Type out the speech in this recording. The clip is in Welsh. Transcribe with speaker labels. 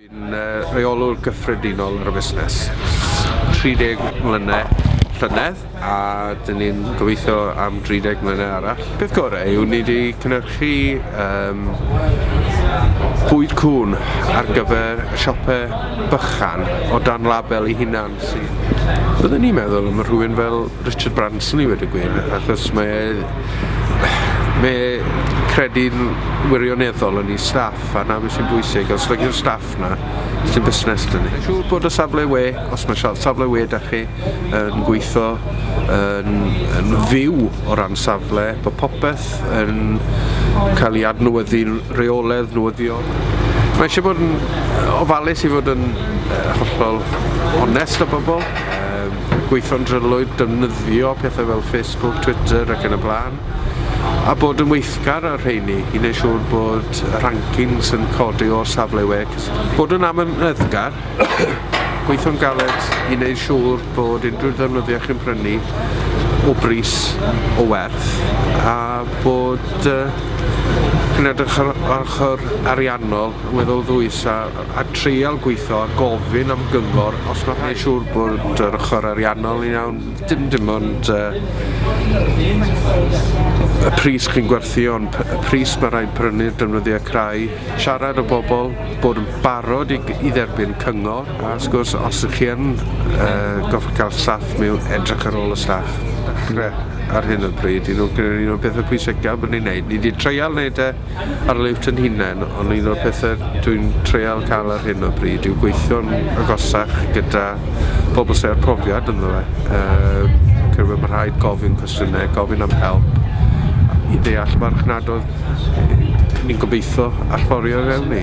Speaker 1: Dwi'n uh, reolwr gyffredinol ar y busnes. 30 mlynedd llynedd a dyn ni'n gobeithio am 30 mlynedd arall. Peth gorau yw ni wedi cynhyrchu um, bwyd cwn ar gyfer y siopau bychan o dan label i hunan sydd... Byddwn ni'n meddwl am rhywun fel Richard Branson i wedi gwyn achos mae e mae e credu'n wirioneddol yn ei staff a na beth sy'n bwysig os nag yw'r staff na sy'n busnes dyn ni. Mae'n siŵr bod y safle we os mae safle we da chi yn gweithio yn, yn fyw o ran safle bod popeth yn cael ei adnewyddu'n reoledd newyddion. Mae eisiau bod yn ofalus i fod yn hollol onest â bobl. gweithio'n drylwyr, defnyddio pethau fel Facebook, Twitter ac yn y blaen, a bod yn weithgar ar rheini i wneud siŵr bod y rankings yn codi o'r safle we, bod yn amyneddgar, gweithio'n galed i wneud siŵr bod unrhyw ddefnyddiau chi'n prynu o bris o werth a bod uh, chi'n edrych ar ochr ariannol yn weddol ddwys a a treial gweitho a gofyn am gyngor os ma' rhaid. Neu' siŵr bod yr ochor ariannol yn iawn, dim dim ond yy y pris chi'n gwerthu on' p- y pris ma' rhaid prynu'r defnyddia crai, siarad â bobol, bod yn barod i g- i dderbyn cyngor, a wrth gwrs os 'ych chi yn yy gorffod ca'l staff miwn, edrych ar ôl y staff. Dechre ar hyn o bryd un o gin- un o bethe pwysica bo' ni'n neud, ni 'di treial neud e Arlwy Frenhinen, ond un o'r pethe dwi'n treial ca'l ar hyn o bryd yw gweithio'n agosach gyda pobl sy' â'r profiad ynddo fe, yym fi'n credu ma' rhaid gofyn cwestiyne, gofyn am help i ddeall marchnadodd ni'n gobeitho allforio i fewn i.